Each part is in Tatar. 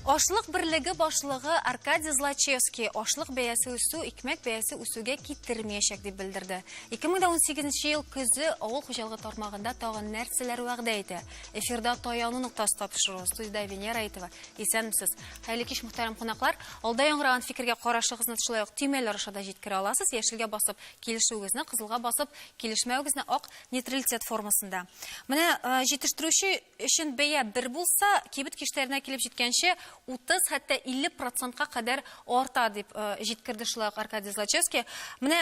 Ашлык берлеге башлыгы Аркадий Злачевский ашлык бәясе үсү икмәк бәясе үсүгә китермәячәк дип белдерде. 2018 ел көзе авыл хуҗалыгы тармагында тагын нәрсәләр вәгъдә итә? Эфирда таяну ноктасы тапшыру студиядә Венера Әйтова. Исәнмесез. Хәерле кич, мөхтәрәм кунаклар. Алда яңгыраган фикергә карашыгызны шулай ук төймәләр аша да җиткерә аласыз. Яшелгә басып килешүегезне, кызылга басып килешмәвегезне ак нейтралитет формасында. Менә э, җитештерүче өчен бәя бер булса, кибет киштәренә килеп җиткәнче 30 хәтта 50 процентка кадәр арта дип э, җиткерде шулай ук Аркадий Злачевский. Менә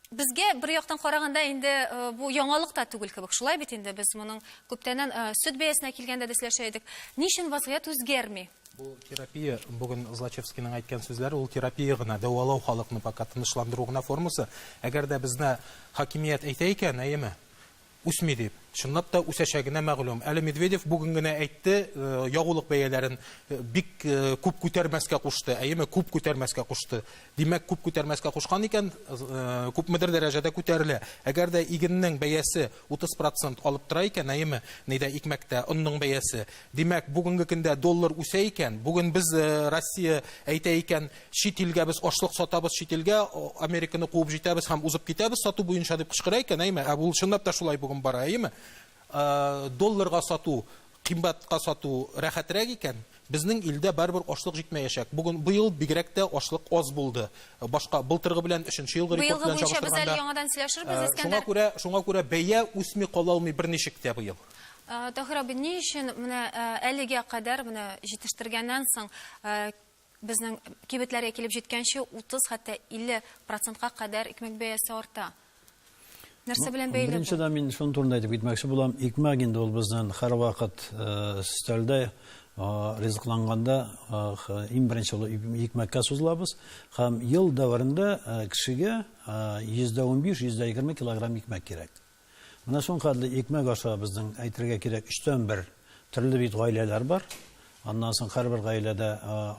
Безгә бер яктан караганда инде э, бу яңалык та түгел кебек. Шулай бит инде без моның күптәннән э, сөт бәясенә килгәндә дә сөйләшә идек. Ни өчен вазгыять үзгәрми? Бу терапия, бүген Злачевскийның әйткән сүзләре, ул терапия гына, дәвалау халыкны пока тынычландыру гына формасы. Әгәр дә безне хакимият әйтә икән, әйеме? Үсми дип. Чынлап та үсәчәгенә мәгълүм. Әле Медведев бүген генә әйтте, ягулык бәяләрен бик күп күтәрмәскә кушты, әйеме, күп күтәрмәскә кушты. Димәк, күп күтәрмәскә кушкан икән, күпмедер дәрәҗәдә күтәрелә. Әгәр дә игеннең бәясе 30 процент алып тора икән, әйеме, ни дә икмәктә, онның бәясе, димәк, бүгенге көндә доллар үсә икән, бүген без Россия әйтә икән, Чит илгә без ашлык сатабыз, чит илгә Американы куып җитәбез һәм узып китәбез сату буенча дип кычкыра икән, әйме? Ә бу чынлап та шулай бүген бара, әйеме? Долларга сату, кыймбатка сату рәхәтрәк икән, безнең илдә барыбер ашлык җитмәячәк. Бүген, быел бигрәк тә ашлык аз булды. Башка, былтыргы белән, өченче елгы рекорд белән чагыштырганда. Быелгы буенча без әле яңадан сөйләшербез, Искәндәр. Шуңа күрә, шуңа күрә бәя үсми кала алмый берничек тә быел. Таһир абый, ни өчен менә әлегә кадәр, менә җитештергәннән соң, Безнең кибетләргә килеп җиткәнче 30, хәтта 50 процентка кадәр икмәк бәясе арта. Нәрсә белән бәйле бу? Беренче дә мин шуның турында әйтеп китмәкче булам. Икмәк инде ул безнең һәрвакыт өстәлдә ризыкланганда иң беренче ул икмәккә сузылабыз. Һәм ел дәверендә кешегә 15%, 20% килограмм икмәк кирәк. Менә шулкадәрле икмәк аша безнең, әйтергә кирәк, өчтән бер төрле бит гаиләләр бар. Аннан соң һәрбер гаиләдә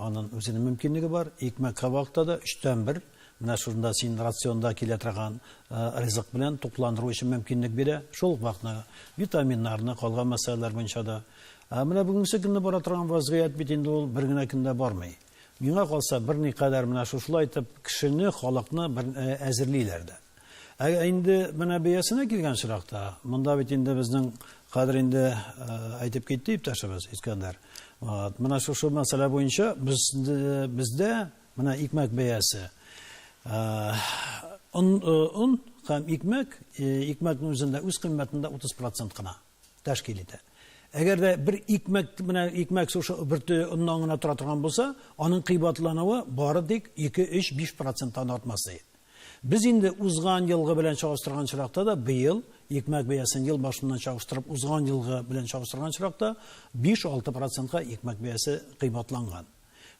анын үзенең мөмкинлеге бар. Икмәк-кабакта да өчтән бер менә шунда син рационда килә торган ризык белән тукландыру өчен мөмкинлек бирә. Шул ук вакытны витаминнарны, калган мәсьәләләр буенча да. Ә менә бүгенге көнне бара торган вазгыять бит инде ул бер генә көндә бармый. Миңа калса, берникадәр менә шушылай итеп кешене, халыкны бер әзерлиләр дә. Ә инде менә бәясенә килгән очракта, монда бит инде безнең кадер инде әйтеп китте иптәшебез Искәндәр. Менә шушы мәсьәлә буенча без бездә менә икмәк бәясе он һәм икмәк, икмәкнең үзендә үз кыйммәтендә 30% кына. тәшкил итә. Әгәр дә бер икмәк менә икмәк сушы бөрте оннан гына тора торган булса, аның кыйбатлануы бары тик 2-3-5 проценттан артмас ди. Без инде узган елгы белән чагыштырган очракта да быел икмәк бәясен ел башыннан чагыштырып узган елгы белән чагыштырган очракта 5-6 процентка икмәк бәясе кыйбатланган.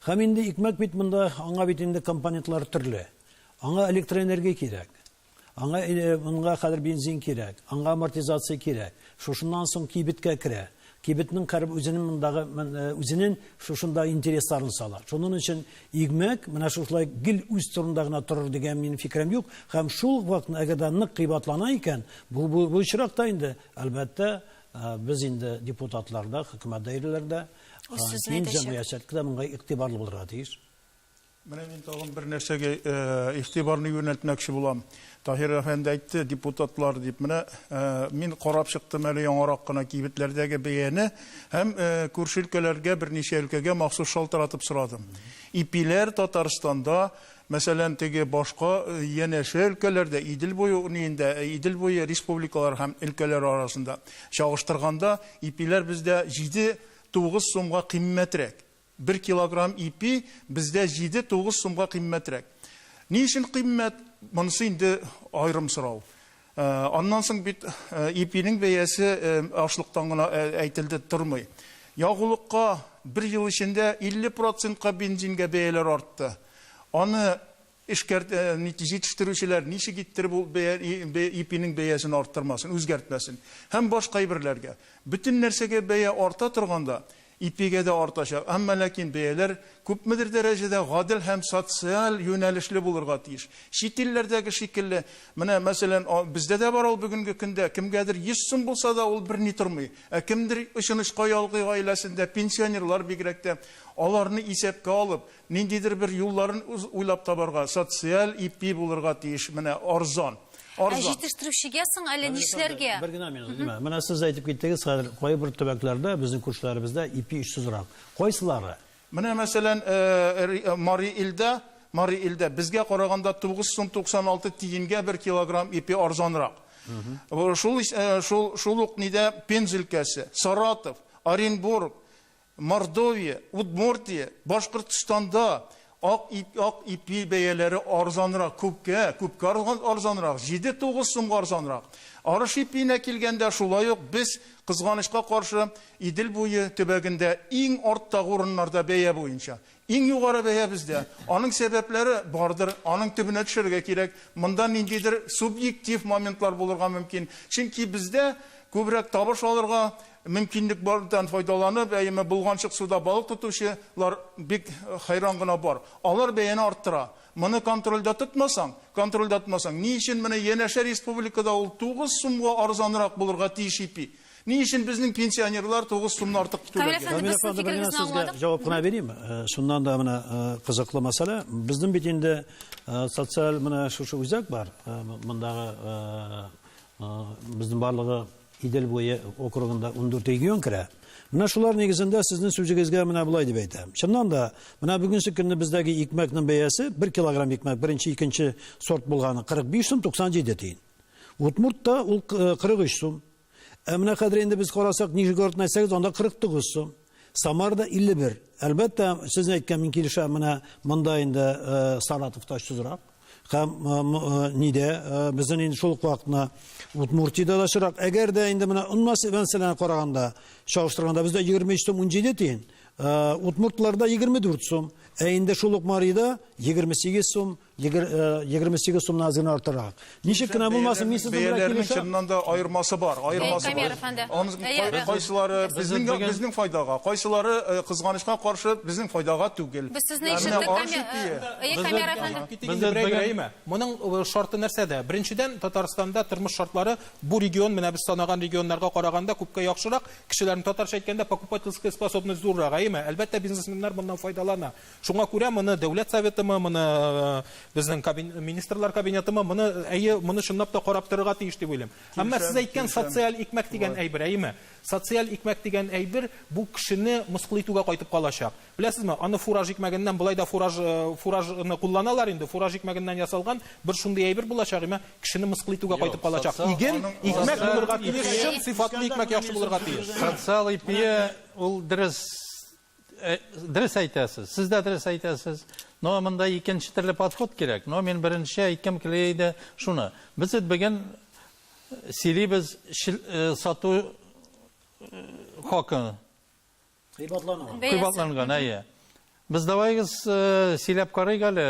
Һәм инде икмәк бит монда аңа бит инде компонентлары төрле. Аңа электроэнергия кирәк. Аңа или монга хәзер бензин кирәк, аңа амортизация кирәк, шушыннан соң кибеткә керә, кибетнең кәрб үзенең мондагы үзенең шушында интересларын сала. Шуның өчен игмәк менә шушылай гел үз турында гына торыр дигән минем фикерем юк, һәм шул ук вакытны әгәр дә нык кыйбатлана икән, бу бу бу очракта инде, әлбәттә, без инде депутатлар да, хөкүмәт даирәләре дә, киң җәмгыячелек тә моңа игътибарлы булырга тиеш. Менә мин тагын бер нәрсәгә игътибарны юнәлтмәкче булам. Таһир әфәнде әйтте, депутатлар дип. Менә мин карап чыктым әле яңарак кына кибетләрдәге бәяне һәм күрше өлкәләргә, берничә өлкәгә махсус шалтыратып сорадым. Ипиләр Татарстанда, мәсәлән, теге башка янәшә өлкәләрдә, Идел буе униендә, Идел буе республикалары һәм өлкәләре арасында чагыштырганда, ипиләр бездә җиде-тугыз сумга кыйммәтрәк. Бер килограмм ипи бездә җиде-тугыз сумга кыйммәтрәк. Ни өчен кыйммәт? Монысы инде аерым сорау. Аннан соң бит ипинең бәясе ашлыктан гына әйтелде тормый. Ягулыкка бер ел эчендә 50 процентка бензингә бәяләр артты. Аны Эшкәрт, җитештерүчеләр ничек иттереп ул бәя, ипинең бәясен арттырмасын, үзгәртмәсен? Һәм башка әйберләргә. Бөтен нәрсәгә бәя арта торганда, ипигә дә артачак. Әмма ләкин бәяләр күпмедер дәрәҗәдә гадел һәм социаль юнәлешле булырга тиеш. Чит илләрдәге шикелле, менә, мәсәлән, бездә дә бар ул бүгенге көндә, кемгәдер йөз сум булса да, ул берни тормый. Ә кемдер, очынычка, ялгый гаиләсендә, пенсионерлар бигрәк тә, аларны исәпкә алып, Ниндидер бер юлларын уйлап табарга, социаль ипи булырга тиеш, менә арзан. Ә җитештерүчегә соң әле нишләргә? Бер генә минут, Лилия. Менә сез әйтеп киттегез, хәзер кайбер төбәкләрдә, безнең күршеләребездә ипи очсызрак. Кайсылары? Менә мәсәлән, Мари Илдә, Мари Илдә безгә караганда 9 сум 96 тиенгә бер килограмм ипи арзанрак. Шул шул шул ук нидә Пенза өлкәсе, Саратов, Оренбург, Мордовия, Удмуртия, Башкортстанда ак ит, ак ипи бәяләре арзанрак, күпкә, күпкә арзанрак, җиде-тугыз сумга арзанрак. Арыш ипиенә килгәндә, шулай ук без, кызганычка каршы, Идел буе төбәгендә иң арттагы урыннарда бәя буенча. Иң югары бәя бездә. Аның сәбәпләре бардыр, аның төбенә төшәргә кирәк. Монда ниндидер субъектив моментлар булырга мөмкин. Чөнки бездә күбрәк табыш алырга, мөмкинлек бардан файдаланып, әйеме, болганчык суда балык тотучы лар бик хәйран гына бар. Алар бәяне арттыра. Моны контрольдә тотмасаң, контрольдә тотмасаң, ни өчен менә янәшә республикада ул тугыз сумга арзанрак булырга тиеш ипи? Ни өчен безнең пенсионерлар 9 сумны артык түләргә? Камилә фәнде, Камилә без фәнде, бер генә сезгә аңладык. җавап кына бирим. Э, Шуннан да менә э, кызыклы мәсьәлә. Безнең бит инде э, социаль менә шушы үзәк бар. Э, Мондагы э, э, безнең барлыгы Идел буе округында 14 регион керә. Менә шулар нигезендә сезнең сүзегезгә менә болай дип әйтәм. Чыннан да, менә бүгенге көнне бездәге икмәкнең бәясе 1 килограмм икмәк беренче, икенче сорт булганы 45 сум 97 тиен. Удмуртта ул э, 43 сум. Ә менә хәзер инде без карасак, Нижегород на 8, анда 49 сум. Самарда 51. Әлбәттә, сез әйткән мин килешәм, менә монда инде э, Саратовта очсызрак. Һәм э, э, нидә безнең инде шул вакытна Удмуртиядә дә очрак. Әгәр дә инде менә онмас мәсьәләне караганда, чагыштырганда бездә 23 сум 17 тиен, удмуртларда 24 сум, ә инде шул ук Марида 28 сум 28 э, сумнан азын артырак. Ничек кенә булмасын, мин сезнең белән Бәяләрнең килешәм. чыннан да аермасы бар, аермасы бар. Камер Кайсылары безнең безнең файдага, кайсылары э, кызганычка каршы безнең файдага түгел. Без сезне Ә менә Моның э, шарты нәрсәдә? Беренчедән, Татарстанда тормыш шартлары бу регион, менә без санаган регионнарга караганда күпкә яхшырак. Кешеләрнең татарча әйткәндә покупательская способность зуррак, әйеме? Әлбәттә, бизнесменнар моннан файдалана. Шуңа күрә моны Дәүләт Советымы, моны безнең Министрлар Кабинетымы, моны әйе, моны чынлап та карап торырга тиеш дип уйлыйм. Әмма сез әйткән социаль икмәк дигән әйбер, әйеме? Социаль икмәк дигән әйбер бу кешене мыскыл итүгә кайтып калачак. Беләсезме, аны фураж икмәгеннән болай да фураж фуражны кулланалар инде, фураж икмәгеннән ясалган бер шундый әйбер булачак, әмма кешене мыскыл итүгә кайтып калачак. Иген, икмәк булырга тиеш, чын сыйфатлы икмәк яхшы булырга тиеш. Социаль ипие ул дөрес Дөрес әйтәсез, сез дә дөрес әйтәсез. Но монда икенче төрле подход кирәк. Но мин беренче әйткем килә иде шуны. Без бит бүген сөйлибез сату хакы. Кыйбатланган. Кыйбатланган, әйе. Без давайгыз сөйләп карыйк әле,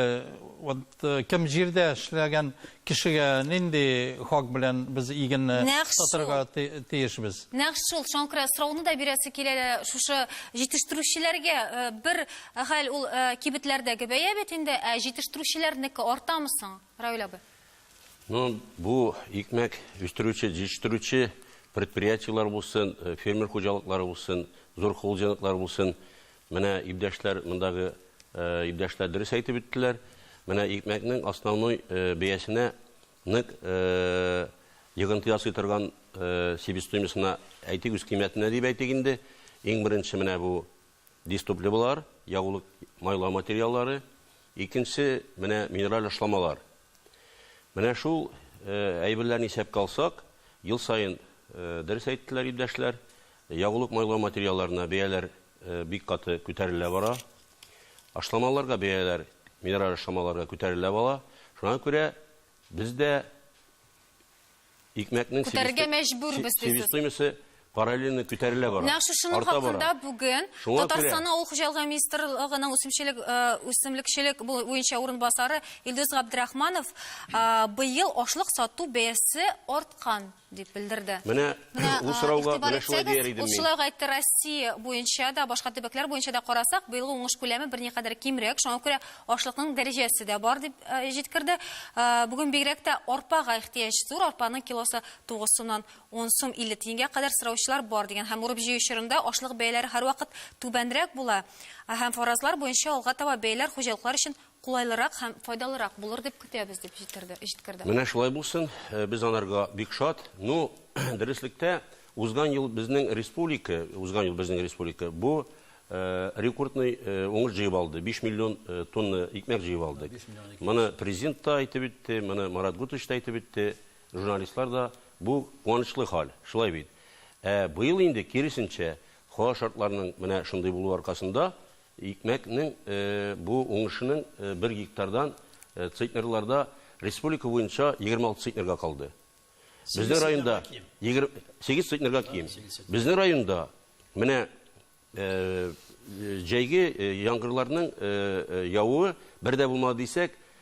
вот кем җирдә эшләгән, Кешегә нинди хак белән без игенне Нәкъ шул. сатырга ти- тиешбез? Нәкъ шул шаңкыры сорауны да бирәсе килә дә, шушы җитештерүчеләргә э, бер хәл ул э, кибетләрдәге бәя бит инде, ә җитештерүчеләрнеке артамы соң, Равил абый? Ну, бу икмәк үстерүче, җитештерүче предприятиеләр булсын, э, фермер хуҗалыклары булсын, зур холдинглар булсын, Менә ибдәшләр мондагы ибдәшләр дөрес әйтеп үттеләр. Менә икмәкнең основной бәясенә нык йогынты ясый торган себестоимостына әйтик, үз кыйммәтенә дип әйтик инде. Иң беренче менә бу дистопливалар, ягулык майлау материаллары. Икенче, менә минераль ашламалар. Менә шул әйберләрне исәпкә алсак, ел саен, дөрес әйттеләр ибдәшләр, Ягулык-майлау материалларына бәяләр бик каты күтәрелә бара. Ашламаларга бәяләр, минераль ашламаларга күтәрелә бала. Шуңа күрә без дә икмәкнең себест- Күтәрергә мәҗбүрбез, дисез. Себестоимосте параллельно күтәрелә бара. Нәкъ шушының Арта бара. хакында бүген Шуңа күрә- Татарстанның Авыл хуҗалыгы министрлыгының үсемчелек, э, үсемлекчелек бу- буенча урынбасары Илдус Габдрахманов, э, быел ашлык сату бәясе арткан. Дип белдерде. Менә ул сорауга менә шулай дияр идем мин. Ул шулай ук әйтте, Россия буенча да, башка төбәкләр буенча да карасак, быелгы уңыш күләме берникадәр кимрәк, шуңа күрә ашлыкның дәрәҗәсе дә бар, дип җиткерде. Бүген бигрәк тә арпага ихтыяҗ зур, арпаның килосы 9 сумнан 10 сум 50 тиенгә кадәр сораучылар бар, дигән һәм урып-җыю чорында ашлык бәяләре һәрвакыт түбәнрәк була һәм фаразлар буенча алга таба бәяләр хуҗалыклар өчен кулайлырак һәм файдалырак булыр дип көтәбез, дип җиткерде. Менә шулай булсын, без анарга бик шат. Ну, дөреслектә, узган ел безнең республика, узган ел безнең республика бу рекордный уңыш җыеп алды, биш миллион тонна икмәк җыеп алдык. Моны Президент та әйтеп үтте, моны Марат Гутыч та әйтеп үтте, журналистлар да. Бу куанычлы хәл, шулай бит? Ә быел инде, киресенчә, һава шартларының менә шундый булуы аркасында, Икмәкнең бу уңышының бер гектардан центнерларда республика буенча 26 центнерга калды. Безнең районда 8 центнерга ким. Безнең районда менә җәйге яңгырларның явуы бер дә булмады дисәк,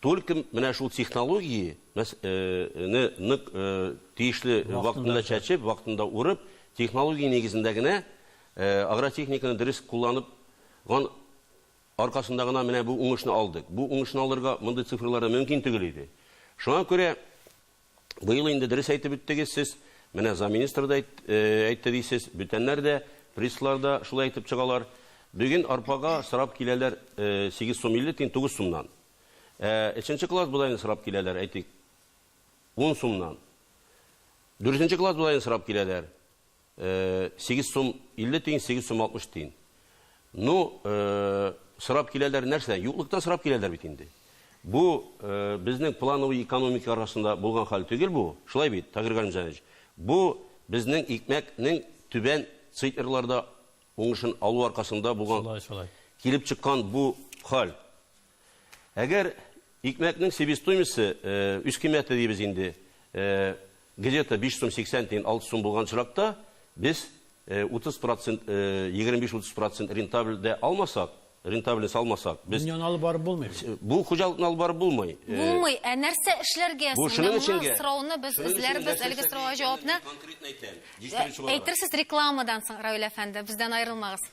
Только менә шул технологии мәс э не нык э тиешле вакытында чәчеп, вакытында урып, технология нигезендә генә э агротехниканы дөрес кулланып ган аркасында гына менә бу уңышны алдык. Бу уңышны алырга мондый цифрларда мөмкин төгел иде. Шуңа күрә. Быел инде дөрес әйтеп үттегез сез, менә замминистр да әйтте дисез, бүтәннәр дә, присслар да шулай әйтеп чыгалар. Бүген арпага сорап киләләр 8 сум 50 тин 9 сумнан. Ә өченче класс бодайны сорап киләләр, әйтик, 10 сумнан. Дүртенче класс бодайны сорап киләләр. Сигез сум илле тиен, сигез сум алтмыш тиен. Ну, сорап киләләр нәрсә? Юклыктан сорап киләләр бит инде. Бу безнең плановый экономика арасында булган хәл түгел бу. Шулай бит, Тагир Галимҗанович? Бу безнең икмәкнең түбән циферларда уңышын алу аркасында булган, килеп чыккан бу хәл. Әгәр икмәкнең себестоимосте, үз кыйммәте дибез инде, где-то 5 сум 80 тиен, 6 сум булган очракта, без 30 процент, 25-30 процент рентабль дә алмасак, рентабельность алмасак, без. Дөньяны алып барып булмый бит. Бу хуҗалыкны алып барып булмый. Булмый. Ә нәрсә эшләргә соң? Менә моны сорауны без эзләрбез, әлеге сорауга җавапны. Әйтерсез рекламадан соң, Равил әфәнде, бездән аерылмагыз.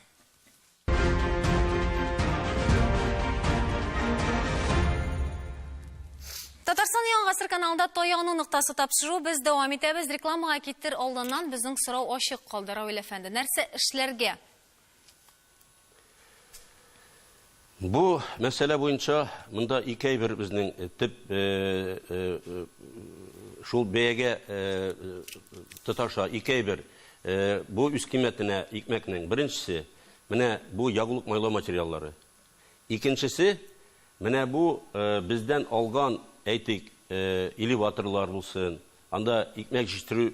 Татарстан яңа гасыр каналында Таяну ноктасы тапшыру без дәвам итәбез. Рекламага китер алданнан безнең сорау ачык калды, Равил әфәнде. Нәрсә эшләргә? Бу мәсьәлә буенча монда ике әйбер безнең э, төп э, э, шул бәягә тоташа ике әйбер. Бу үз кыйммәтенә икмәкнең, беренчесе, менә бу ягулык-майлау материаллары. Икенчесе, менә бу бездән алган, әйтик, элеваторлар булсын, анда икмәк җитештерү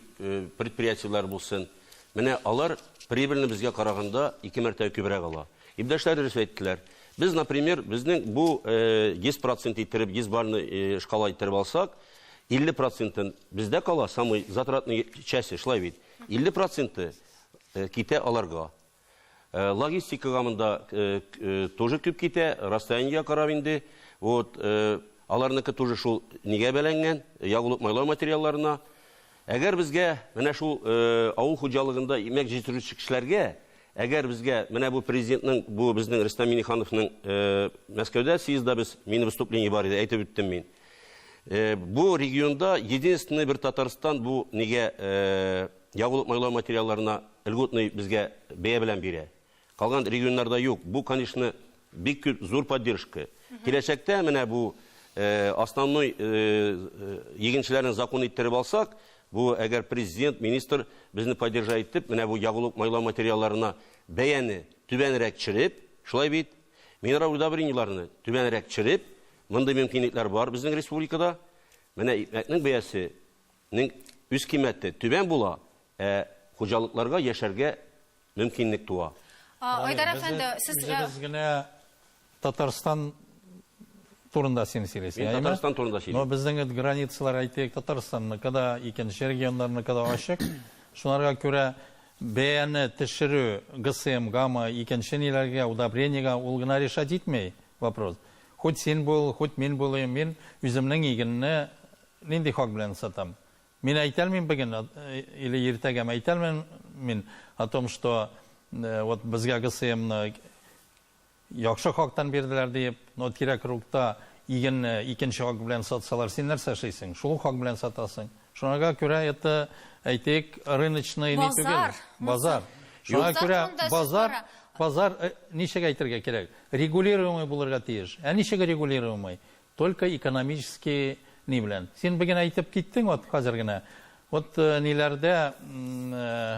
предприятиеләре булсын, менә алар прибыльне безгә караганда ике мәртәбә күбрәк ала. Иптәшләр дөрес әйттеләр. Без, например, безнең бу 100% иттереп, 100 балльный шкала иттереп алсак, 50 процентын бездә кала, самый затратный части, шулай бит. 50 проценты э, китә аларга. Э, логистикага монда э, тоже күп китә, расстояниега карап инде. Вот, аларныкы тоже шул нигә бәләнгән, ягулык майлау материалларына. Әгәр безгә менә шул э, авыл хуҗалыгында имәк җитерүче кешеләргә, әгәр безгә менә бу президентның, бу безнең Рөстәм Минихановның э, Мәскәүдә съездда без, мини выступление бар иде, әйтеп үттем мин. Э, бу регионда единственный бер Татарстан бу нигә э, ягулык майлау материалларына льготный безгә бәя белән бирә. Калган регионнарда юк. Бу, конечно, бик күп зур поддержка. Киләчәктә менә бу э, основной егенчеләрен закон иттереп алсак, бу әгәр президент, министр безне поддержать итеп, менә бу ягулык майлау материалларына бәяне түбәнрәк төшереп, шулай бит, минерал удобрениеләрне түбәнрәк төшереп, Мондый мөмкинлекләр бар безнең республикада. Менә икмәкнең бәясенең үз кыйммәте түбән була, ә хуҗалыкларга яшәргә мөмкинлек туа. Айдар әфәнде, сез... Үзегез генә Татарстан турында син сөйлисең, әйеме? Мин Татарстан турында сөйлим. Но безнең эт границалар, әйтик, Татарстанныкы да, икенче регионнарныкы да ачык. Шуларга күрә бәяне төшерү ГСМга мы, икенче ниләргә, удобрениегә, ул гына решать итми вопрос. Хуть син бул, хуть мин булыйм, мин үземнең игенне нинди хак белән сатам? Мин әйтәлмим беген или иртәгәме әйтәлмим мин о том, что вот безгә ГСМны яхшы хактан бирделәр диеп, но тирә-кругта игенне икенче хак белән сатсалар, син нәрсә эшлисең? Шул хак белән сатасың. Шуңага күрә это, әйтик, рыночный ни түгел. Базар. Базар. Шуңа күрә базар, базар э, ничек әйтергә кирәк? Регулируемый булырга тиеш. Ә ничек регулируемый? Только экономический ни белән. Син бүген әйтеп киттең вот хәзер генә. Вот э, ниләрдә э,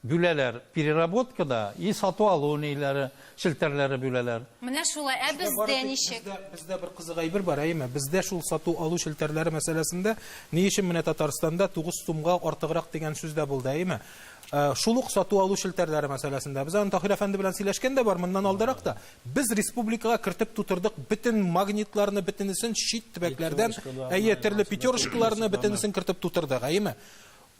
Бүләләр, переработка да и сату алу ниләре, челтәрләре бүләләр. Менә шулай, ә бездә ничек? Бездә бер кызык әйбер бар, әйеме? Бездә шул сату алу челтәрләре мәсьәләсендә ни өчен менә Татарстанда тугыз сумга артыграк дигән сүз дә булды, әйеме? Шул ук сату алу челтәрләре мәсьәләсендә. Без аны Таһир әфәнде белән сөйләшкән дә бар моннан алдарак та. Без республикага кертеп тутырдык бөтен магнитларны, бөтенесен чит төбәкләрдән, әйе, төрле пятерочкаларны, бөтенесен кертеп тутырдык, әйеме?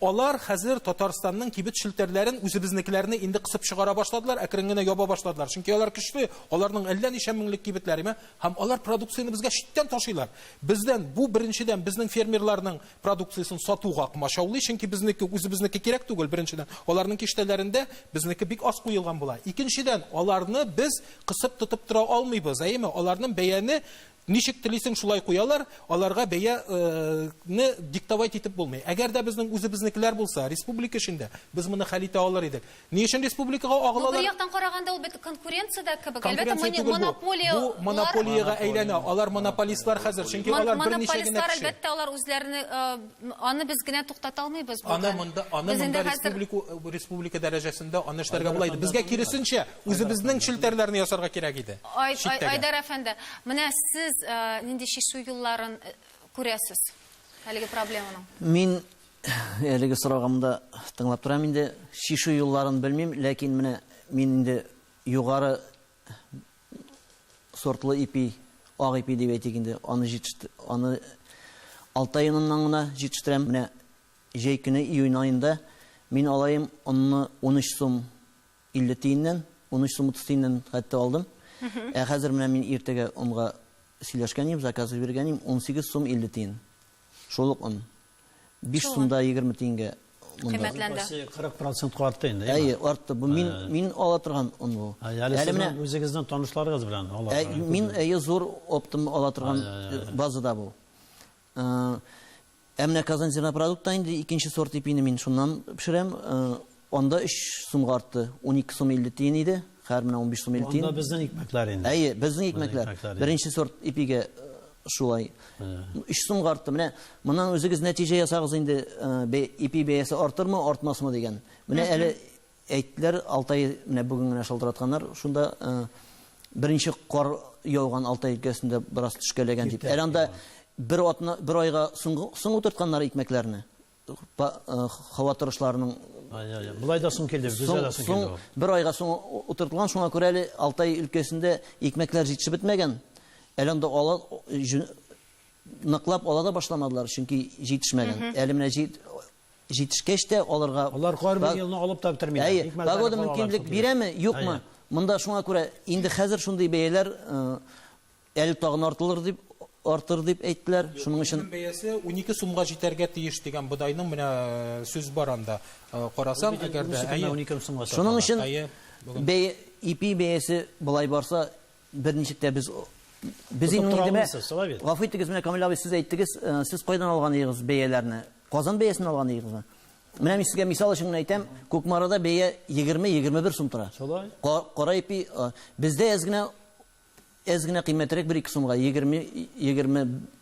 Алар хәзер Татарстанның кибет челтәрләрен, үзебезнекеләрне инде кысып чыгара башладылар, әкрен генә яба башладылар. Чөнки алар көчле, аларның әллә ничә меңлек кибетләре бар һәм алар продукцияне безгә читтән ташыйлар. Бездән, бу, беренчедән, безнең фермерларның продукциясен сатуга комачаулый, чөнки безнеке, үзебезнеке кирәк түгел, беренчедән. Аларның киштәләрендә безнеке бик аз куелган була. Икенчедән, аларны без кысып тотып тора алмыйбыз, әйеме? Аларның бәяне Ничек телисең шулай куялар, аларга бәя не диктовать итеп булмый. Әгәр дә безнең үзебезнекеләр булса, республика эчендә, без моны хәл итә алыр идек. Ни өчен республикага Бу бер агылалар? яктан караганда ул бит конкуренция дә кебек. Әлбәттә, Конкуренция мони- түгел бу. монополия Бу лар- монополиягә әйләнә. Алар монополистлар хәзер, чөнки Мон- алар берничә генә Монополистлар, кеше. әлбәттә, алар үзләренең, э, аны без генә туктата алмыйбыз бүген. Аны монда, аны Без инде монда хәзер- республику, республика дәрәҗәсендә аны эшләргә була иде. Безгә киресенчә, Үзебезнең челтәрләрне ясарга кирәк иде. Айдар әфәнде, менә сез э, нинди чишү юлларын э, күрәсез әлеге проблеманың? Мин э, әлеге сорагымда тыңлап торам инде. Чишү юлларын белмим, ләкин менә мин инде югары сортлы ипи, ак ипи дип әйтик инде, аны җитешт, аны алтай оныннан гына җитештерәм. Менә җәй көне июнь аенда мин алаем онны 13 сум 50 тиеннән, 13 сум 30 тиеннән хәтта алдым. Ә хәзер менә мин иртәгә онга сөйләшкән идем, заказ биргән идем, 18 сум 50 тиен. Шул ук он. 5 сумда 20 тиенгә монда. Кыйммәтләнде. 40 процентка артты инде. Әйе, артты. Бу мин мин ала торган он бу. Әле менә үзегезнең танышларыгыз белән ала торган. Мин әйе зур оптом ала торган базада бу. Ә менә Казань зернопродукта инде икенче сорт ипине мин шуннан пешерәм. Анда 3 сумга артты. 12 сум 50 тиен иде, хәзер менә 15 сум 50 тиен. Анда безнең икмәкләр инде. Әйе, безнең икмәкләр. Беренче сорт ипигә шулай. 3 сумга артты. Менә моннан үзегез нәтиҗә ясагыз инде, ипи бәясе артырмы, артмасмы дигән. Менә әле Әйттеләр, Алтай менә бүген генә шалтыратканнар, шунда беренче кар яуган Алтай өлкәсендә бераз төшкәләгән дип. Әле анда бер атна, бер айга соң утыртканнар икмәкләрне. Һава торышларының Болай да соң килде, безгә дә соң килде. Бер айга соң утыртылган, шуңа күрә әле Алтай өлкәсендә икмәкләр җитешеп бетмәгән. Әле анда ала ныклап ала да башламадылар, чөнки җитешмәгән. Әле менә Җитешкәч тә алырга. Алар һәрбер елны алып та бетермиләр. Әйе, погода мөмкинлек бирәме, юкмы? Монда шуңа күрә инде хәзер шундый бәяләр әле тагын артылыр дип, артыр дип әйттеләр. Шуның өчен. Үзенең бәясе унике сумга җитәргә тиеш дигән бодайның менә сүз бар анда. Карасаң, әгәр дә. Шуның өчен бәя, ипи бәясе болай барса, Берничек тә без без инде миңа гафу итегез, менә Камил абый сез әйттегез, сез кайдан алган идегез бәяләрне? Казан бәясеннән алган идегезме? Менә мин сезгә мисал өчен генә әйтәм, Кукмарада бәя 20-21 сум тора. Шулай. Кара ипи бездә әз генә әз генә кыйммәтрәк 1-2 сумга 20 20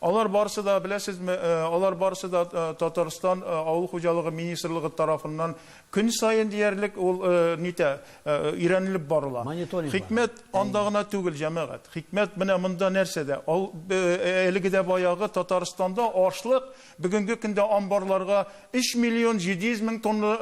Алар барысы да, беләсезме, алар барысы да Татарстан авыл хуҗалыгы министрлыгы тарафыннан көн саен диярлек ул нитә, өйрәнелеп барыла. Хикмәт анда гына түгел, җәмәгать. Хикмәт менә монда нәрсәдә? Ал, әлеге дә баягы Татарстанда ашлык бүгенге көндә амбарларга 3 миллион 700 мең тонна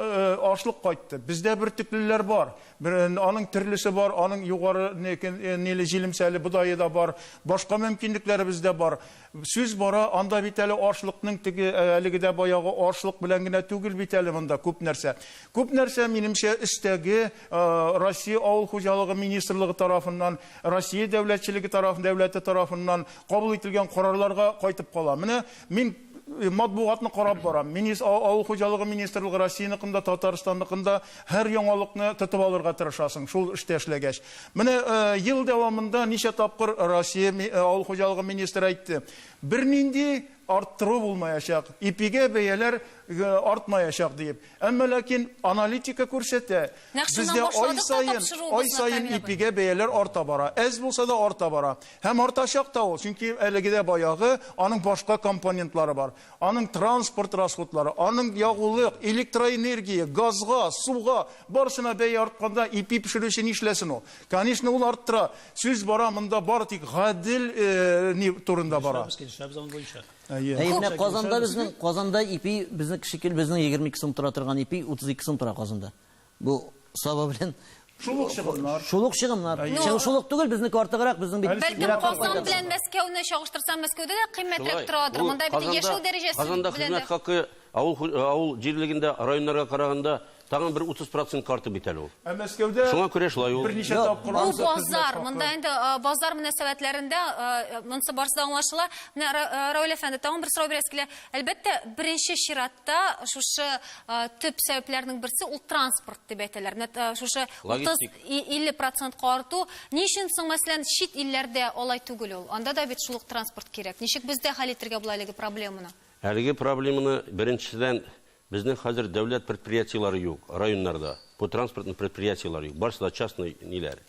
ашлык кайтты. Бездә бөртеклеләр бар. Бер аның төрлесе бар, аның югары ниле җилемсәле бодае да бар, башка мөмкинлекләребез дә бар. Сүз бара, анда бит әле ашлыкның теге, әлеге дә баягы ашлык белән генә түгел бит әле монда күп нәрсә. Күп нәрсә, минемчә, өстәге Россия Авыл хуҗалыгы министрлыгы тарафыннан, Россия дәүләтчелеге тараф, дәүләте тарафыннан кабул ителгән карарларга кайтып кала. Менә мин матбугатны карап барам. Минис авыл хуҗалыгы министрлыгы Россияныкын да, Татарстанныкын да һәр яңалыкны тотып алырга тырышасың, шул эштә эшләгәч. Менә ел дәвамында ничә тапкыр Россия авыл хуҗалыгы министры әйтте, бернинди арттыру булмаячак, ипигә бәяләр артмаячак диеп. Әмма ләкин аналитика күрсәтә, Нәкъ шуннан бездә ай башладык та саен, тапшыруыбызны, ай саен Камил абый. ипигә бәяләр арта бара. Әз булса да арта бара. Һәм артачак та ул, чөнки әлеге дә баягы, аның башка компонентлары бар. Аның транспорт расходлары, аның ягулык, электроэнергия, газга, суга, барысына бәя артканда ипи пешерүче нишләсен ул? Конечно, ул арттыра. Сүз бара монда бары тик гадел э, ни турында бара. Килешәбез, килешәбез аның буенча. Әйе. Әйе, менә Казанда безнең, Казанда ипи, безнең шикел, безнең 22 сум тора торган ипи 32 сум тора Казанда. Бу саба белән Шулык чыгымнар. Шулык чыгымнар. Чыгым шулык түгел, безнеке артыграк, безнең бит. Бәлки Казан белән Мәскәүне чагыштырсам, Мәскәүдә дә кыйммәтрәк торадыр. Монда бит яшәү дәрәҗәсе белән дә. Казанда хезмәт хакы авыл авыл җирлегендә, районнарга караганда Тагын бер 30 процентка артты бит әле ул. Ә Мәскәүдә Шуңа күрә шулай ул. Берничә Йо, тапкыр Бу ансы хезмәт базар, хакы. монда инде а, базар мөнәсәбәтләрендә а, монысы барысы да аңлашыла. Менә Ра- а, Равил әфәнде, тагын бер сорау бирәсе килә. Әлбәттә, беренче чиратта шушы а, төп сәбәпләрнең берсе ул транспорт дип әйтәләр. Менә а, шушы 30 Логистик. и- 50 процентка арту. Ни өчен соң, мәсәлән, чит илләрдә алай түгел ул? Анда да бит шул ук транспорт кирәк. Ничек бездә хәл итергә була әлеге проблеманы? Әлеге проблеманы беренчедән Безнең хәзер дәүләт предприятиеләре юк районнарда, бу транспортный предприятиеләр юк, барысы да частный ниләр,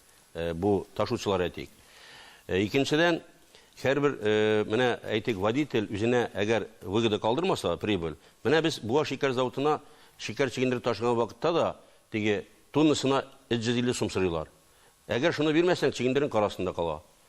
бу ташучылар әйтик. Икенчедән, һәрбер, менә әйтик, водитель үзенә әгәр выгода калдырмаса, прибыль, менә без Буа шикәр заводына шикәр чигендереп ташыган вакытта да теге тоннасына 350 сум сорыйлар. Әгәр шуны бирмәсәң, чигендерүең кар астында кала.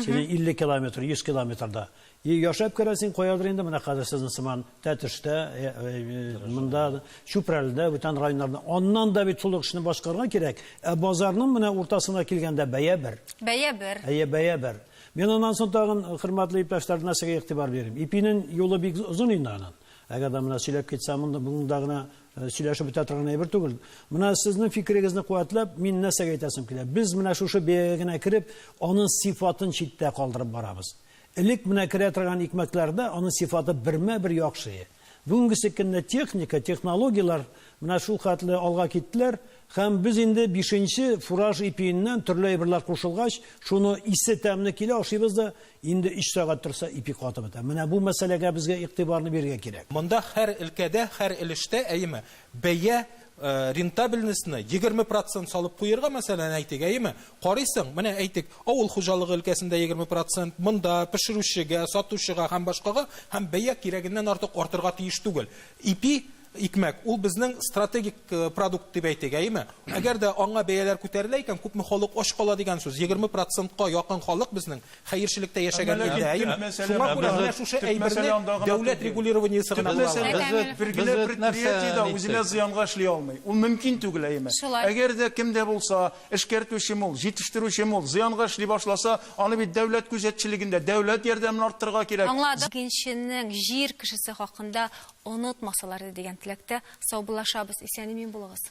Син 50 километр, 100 километрда. И яшәп керәсең каядыр инде менә хәзер сезнең сыман Тәтештә, э, э, монда Чүпрәледә, бүтән районнарда. Аннан да бит шул эшне башкарырга кирәк. Ә базарның менә уртасына килгәндә бәя бер. Бәя бер. Әйе, бәя бер. Мин аннан соң тагын хөрмәтле иптәшләр нәрсәгә игътибар бирим. Ипинең юлы бик озын инде аның. Әгәр дә менә сөйләп китсәм, монда гына Э, сөйләшеп бетә торган әйбер түгел. Менә сезнең фикерегезне куәтләп, мин нәрсәгә әйтәсем килә? Без менә шушы бәягә генә кереп, аның сифатын читтә калдырып барабыз. Элек менә керә торган икмәкләрдә аның сифаты бермә-бер яхшы. Бүгенге көндә техника, технологияләр менә шул хәтле алга киттеләр, һәм без инде 5 фураж ипиеннән төрле әйберләр кушылгач, шуны исе тәмле килә, ашыйбыз да Инде өч сәгать торса, ипи катып бетә. Менә бу мәсьәләгә безгә игътибарны бирергә кирәк. Монда һәр өлкәдә, һәр өлештә, әйеме, бәя, рентабельностьны егерме процент салып куерга, мәсәлән, әйтик, әйеме? Карыйсың, менә, әйтик, авыл хуҗалыгы өлкәсендә егерме процент, монда, пешерүчегә, сатучыга һәм башкага, һәм бәя кирәгеннән артык артырга тиеш түгел. Ипи Икмәк, ул безнең стратегик продукт дип әйтик, әйеме? Әгәр дә аңа бәяләр күтәрелә икән, күпме халык ач кала дигән сүз. Егерме процентка якын халык безнең хәерчелектә яшәгән илдә, әйеме? Шуңа күрә менә шушы әйберне дәүләт регулированиесе гына була ала. Без бит, бер генә предприятие дә үзенә зыянга эшли алмый. Ул мөмкин түгел, әйеме? Әгәр дә кем дә булса, эшкәртүчеме ул, җитештерүчеме ул, зыянга эшли башласа, аны бит дәүләт күзәтчелегендә, дәүләт ярдәмен арттырырга кирәк. Аңладым. Икенченең, җир кешесе хакында Онытмасалар иде дигән теләктә саубуллашабыз, исән-имин булыгыз!